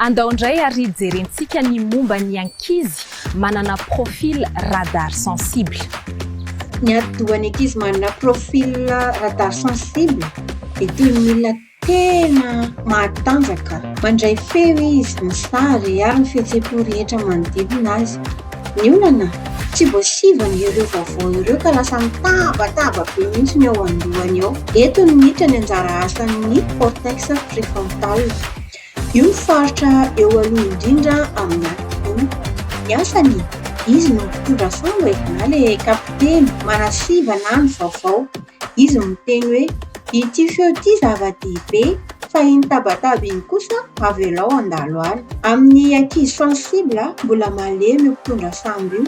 Andao indray ary jerentsika ny momba ny ankizy manana profil radar sensible. Ny atidohan'ny ankizy manana profil radar sensible dia toy ny milina tena mahatanjaka. Mandray feo izy, ny sary ary ny fihetseham-po rehetra manodidina azy. Ny olana, tsy voasivana ireo vaovao ireo ka lasa mitabataba be mihitsy ny eo an-dohany eo. Eto ny miditra ny anjara asan'ny cortex prefrontal. Io no faritra eo aloha indrindra amin'ny ati-doha. Ny asany, izy no mitondra samba e, na ilay kapiteny, manasivana ny vaovao. Izy no miteny hoe, Ity feo ity zava-dehibe, fa iny tabataba iny kosa avelao handalo any. Amin'ny ankizy sensible, mbola malemy io mpitondra sambo io,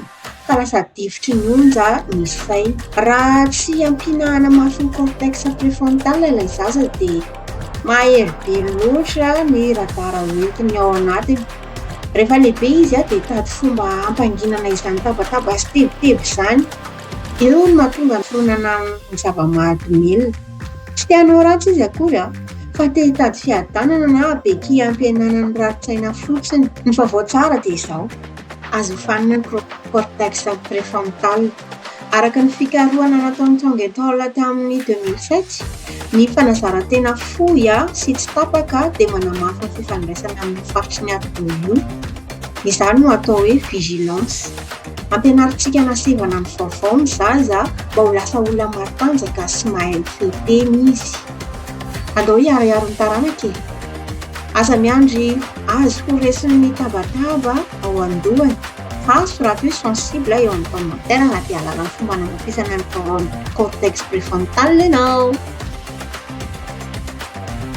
ka lasa difotry ny onja ny sainy. Raha tsy ampiana hanamafy ny cortex préfrontal ilay zaza dia mahery be loatra ny radar hoentiny ao anatiny. Rehefa lehibe izy dia hitady fomba hampanginana izany tabataba sy tebiteby izany. Io no mahatonga ny fironana amin'ny zava-mahadomelina. Tsy te hanao ratsy izy akory, fa te hitady fiadanana na bekia hampihenana ny rarin-tsaina fotsiny. Ny vaovao tsara dia izao, azo ofanina ny cortex préfrontal. Araka ny fikarohana nataon'i Chang et al. Tamin'ny deux mille sept, ny fanazaran-tena fohy sy tsy tapaka dia manamafy ny fifandraisana amin'io faritry ny ati-doha io. Izany no atao hoe vigilance. Ampianarintsika na sendra na mivaovao ny zaza mba ho lasa olona matanjaka sy mahay mifehy tena izy. Andao hiharihary ny taranaka e! Aza miandry azy ho resin'ny tabataba ao an-dohany fa azo raha plus sensible eo amin'ny commentaires na dia alalan'ny fomba nanamafisana ny cortex préfrontal ianao.